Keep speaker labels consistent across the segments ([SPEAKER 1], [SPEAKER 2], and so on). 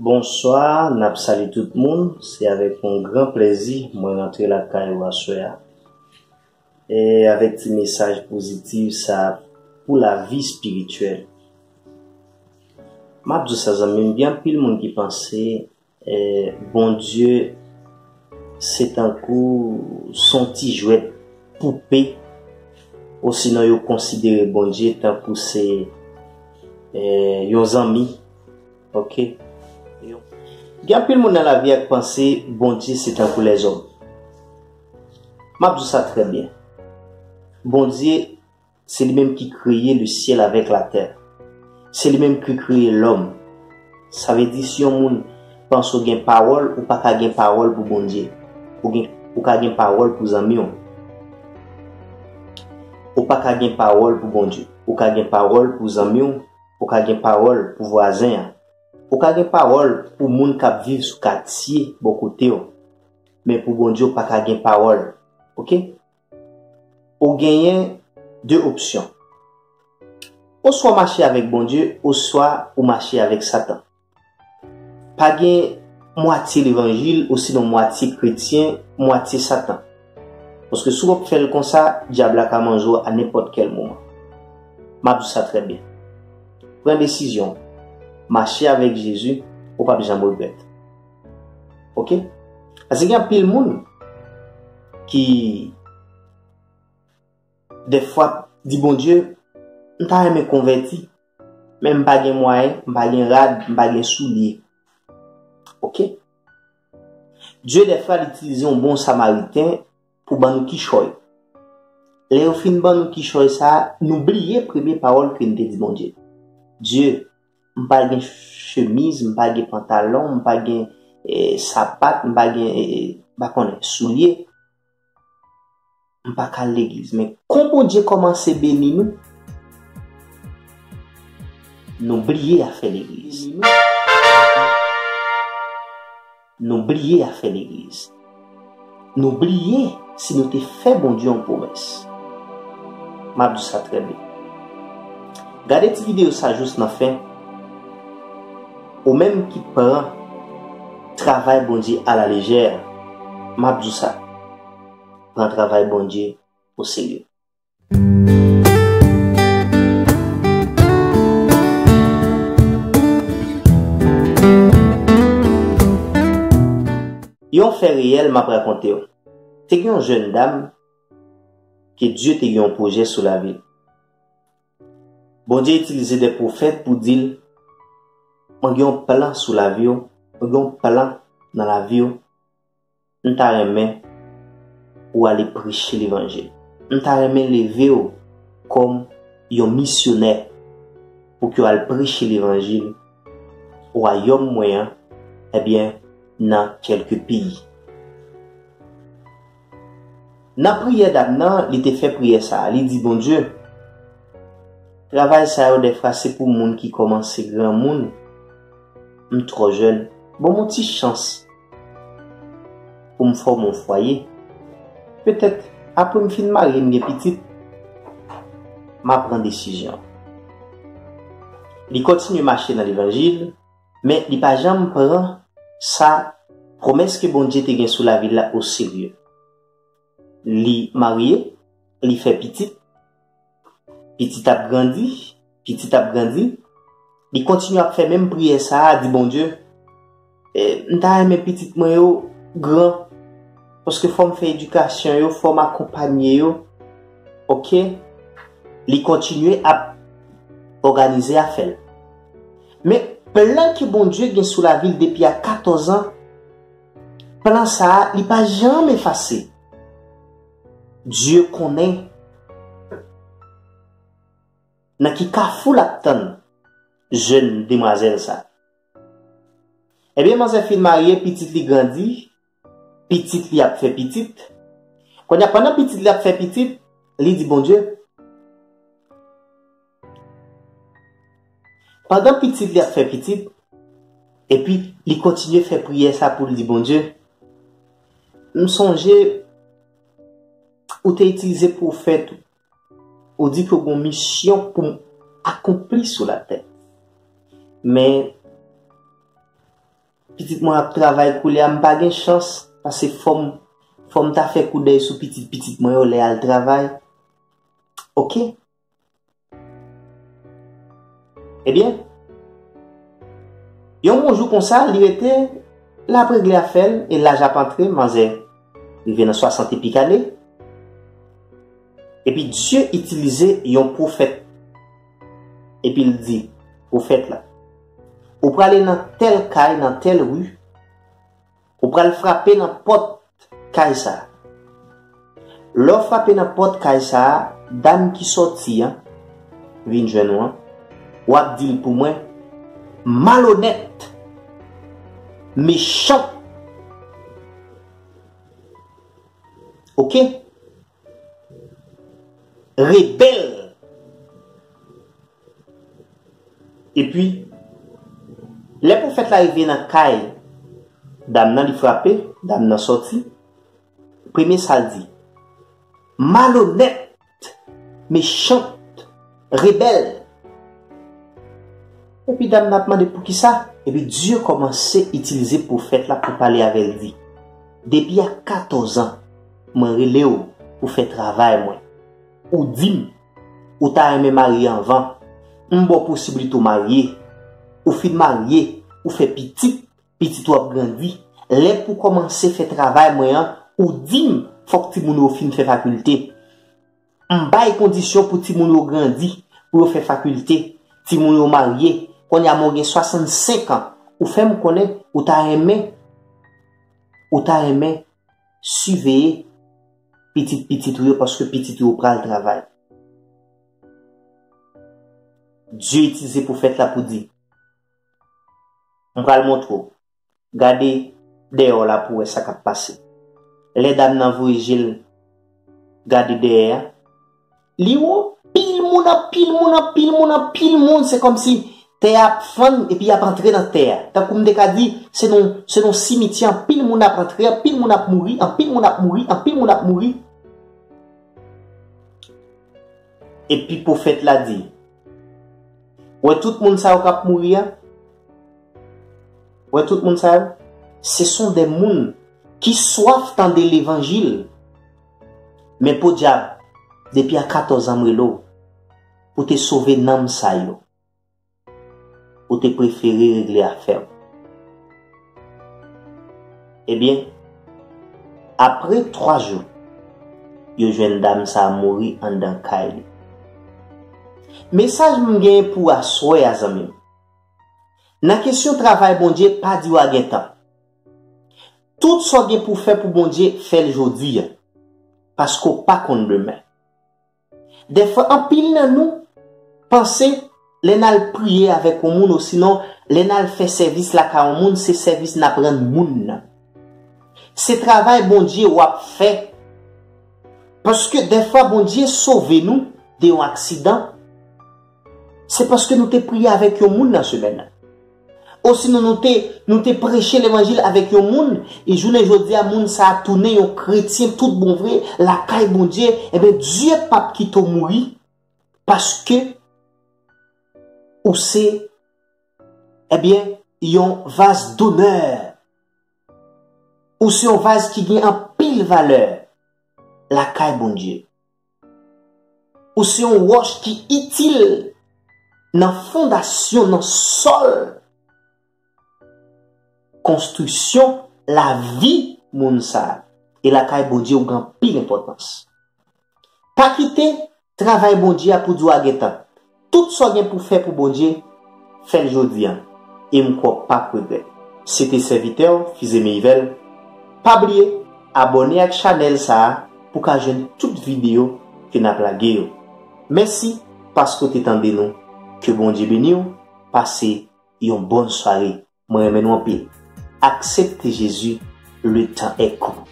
[SPEAKER 1] Bonswa, nap salye tout moun, se avèk yon gran plèzi mwen rantre lakay ou aswè a e avèk ti mesaj pozitiv sa pou lavi spirityèl. Map diw sa zanmim gen anpil moun ki panse Bondye se tankou son ti jwèt poupe osinon yo konsidere Bondye tankou se yon zanmi. Ok Gen anpil moun nan lavi a k panse Bondye se tankou lèzòm. M ap di w sa trè byen. Bondye se li menm ki kreye lesyèl avèk latè. Se li menm ki kreye lòm. Sa vle di si yon moun panse w gen pawòl, ou pa ka gen pawòl pou Bondye. Ou gen, ou ka gen pawòl pou zanmi w. Ou pa ka gen pawòl pou Bondye. Ou ka gen pawòl pou zanmi w. Ou ka gen pawòl pou vwazen an. Ou ka gen pawòl pou moun k ap viv sou katye bò kote w. Men pou Bondye ou pa ka gen pawòl. Ok? Ou genyen de opsyon. Oswa w mache avèk Bondye oswa ou mache avèk Satan. Pa gen mwatye levanjil osinon mwatye kretyen, mwatye satan. Paske si w ap fè l konsa, dyab la ka manje w a nenpòt kèl moman. M ap di w sa trè byen. Pran desizyon w. Mache avèk Jezi, ou p ap janm regrèt. Ok? Paske gen anpil moun ki dèfwa di Bondye, M ta renmen konvèti. Men m pa gen mwayen, m pa gen rad, m pa gen soulye. Ok. Dye dèfwa l itilize yon bon samariten pou ban nou kichòy. Lè yo fin ban nou kichòy sa a, nou bliye premye pawòl ke n te di Bondye. Dye, m pa gen chemiz, m pa gen pantalon, m pa gen sapat, m pa gen, m pa konnen, soulye. M pa ka al legliz men kon Bondye kòmanse beni nou, nou bliye afè legliz. Nou bliye afè legliz. Nou bliye si nou te fè Bondye yon pwomès. M ap di w sa trè byen. Gade ti videyo sa jous nan fen. Ou menm ki pran travay Bondye a la lejè a, m ap di w sa, pran travay Bondye o serye. Yon fè reyèl m ap rakonte w. Te gen yon jèn dam ke Dye te gen yon pwojè sou lavi l. Bondye itilize de pwofèt pou di l, Mwen gen yon plan sou lavi w, mwen gen yon plan nan lavi w, m ta renmen ou ale preche levanjil. M ta renmen leve w kòm yon misyonè pou ke w al preche levanjil wayòm mwen an, ebyen nan kèlke peyi. Nan priyè dam nan, li te fè priyè sa a, li di, Bondye, travay sa yo dèfra se pou moun ki kòmanse granmoun, m twò jèn, ban m yon ti chans pou m fòme yon fwaye. Petèt apre m fin marye, m gen pitit, m a pran desizyon. Li kontinye mache nan levanjil. Men li pa janm pran sa pwomès ke Bondye te gen sou lavi l la oserye. Li marye, li fè pitit, pitit ap grandi, pitit ap grandi, li kontinye ap fè menm priyè sa a, di Bondye, M ta renmen pitit mwen yo gran, paske fò m fè edikasyon yo, fò m akonpanye yo. Ok, li kontinye ap òganize afè l. Men plan ke Bondye gen sou lavi l depi a 14 an, plan sa a li pa janm efase. Dye konnen nan ki kafou l ap tann jèn demwazèl sa. Ebyen manzè fin marye, pitit li grandi. Pitit li ap fè pitit. Kounye a, pandan pitit li ap fè pitit, li di Bondye, Pandan pitit li ap fè pitit, epi li kontinye fè priyè sa pou l di Bondye, M sonje ou te itilize pwofèt ou, ou di ke w gen yon misyon pou m akonpli sou latè. Men, Pitit mwen ap travay koulye a, m pa gen chans pase fòm fòm ta fè koudèy sou pitit pitit mwen yo lè al travay ok ebyen yon bon jou konsa li rete lap regle afèl e laj ap antre manzè rive nan 60 epik ane epi Dye itilize yon pwofèt Epi l di, Pwofèt la, ou prale nan tèl kay nan tèl ri, ou pral frape nan pòt kay sa a. Lè w frape nan pòt kay sa a, dam ki sòti an vin jwenn ou an, w ap di l pou mwen, 'Malonèt, mechan. Ok? Rebel Epi Lè pwofèt la rive nan kay Dam nan li frape Dam nan sòti Premye sal di Malonèt Mechant Rebel! Epi dam nan ap mande poukisa? Epi Dieu komanse itilize pwofèt la pou pale avèl di, Depi a 14 ans mwen relew pou fè travay mwen, ou dim ou ta renmen marye anvan, m baw posibilite ou marye, ou fin marye ou fè pitit, pitit ou ap grandi, lè pou komanse fè travay mwen an ou dim fòk timoun ou yo fin fè fakilte, M bay kondisyon pou timoun yo grandi, pou yo fè fakilte, timoun yo marye, kounye a men w gen 65 an, ou fè m konnen ou ta renmen, ou ta renmen siveye pitit pitit ou yo paske pitit ou yo pral travay. Dye itilize pwofèt la pou di, M pral montre w. Gade deyò la pou wè sa k ap pase. Lè dam nan voye je l gade dèyè a, li wè anpil moun, anpil moun, anpil moun, anpil moun. Se kòmsi tè a ap fann epi y ap antre nan tè a. Tankou m te ka di, se nan yon simityè anpil moun ap antre, anpil moun ap mouri, anpil moun ap mouri, anpil moun ap mouri. Epi pwofèt la di, Wè tout moun sa yo k ap mouri a? Wè tout moun sa yo, se son de moun ki swaf tande levanjil. Men podyab, depi a 14 an m rele w pou te sove nanm sa yo, ou te prefere regle afè w. Ebyen, apre 3 jou, yo jwenn dam sa mouri anndan kay li. Mesaj m genyen pou aswè a zanmi m. Nan kesyon travay Bondye pa di wa gentan. Tout sa w gen pou w fè pou Bondye fè l jodi a. Paske w pa konn demen. Dèfwa anpil nan nou panse lè n al priye avèk yon moun osinon lè n al fè sèvis lakay yon moun se sèvis n ap rann moun nan. Se travay Bondye w ap fè. Paske dèfwa Bondye sove nou de yon aksidan. Se paske nou te priye avèk yon moun nan semèn nan. Osinon nou te nou te preche levanjil avèk yon moun, e jounen jodi a moun sa a tounen yon kretyen tout bon vre lakay Bondye, enben Dye p ap kite w mouri paske ou se enben yon vaz donè. Ou se yon vaz ki gen anpil valè lakay Bondye. Ou se yon wòch ki itil nan fondasyon, nan sòl konstriksyon lavi moun sa a. E lakay Bondye ou gen anpil enpòtans. Pa kite travay Bondye a pou di w a gen tan. Tout sa w gen pou w fè pou Bondye, fè l jodi a, e m kwè w pap regrèt. Se te sèvitè w Fizeme Yvel, pa bliye abòne ak chanèl sa a pou w ka jwenn tout videyo ke n ap lage yo. Mèsi paske w te tande nou, ke Bondye beni w, pase yon bòn sware, mwen renmen nou anpil. Aksepte Jezi, le tan est court.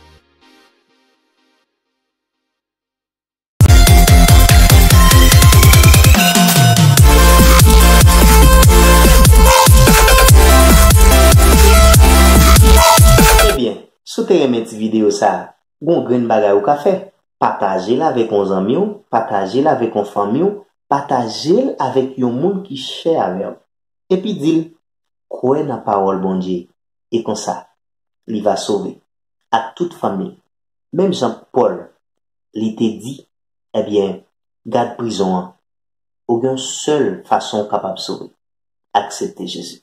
[SPEAKER 1] Ebyen, si w te renmen ti videyo sa, gon grenn bagay ou ka fè, pataje l avèk on zanmi w, pataje l avèk on fanmi w, pataje l avèk yon moun ki chè avè w. Epi di l, kwè nan pawòl Bondye, e konsa, li va sove, ak tout fanmi l, menm jan Pòl, li te di, Ebyen, gad prizon an, ou gen yon sèl fason ou kapab sove, aksepte Jezi.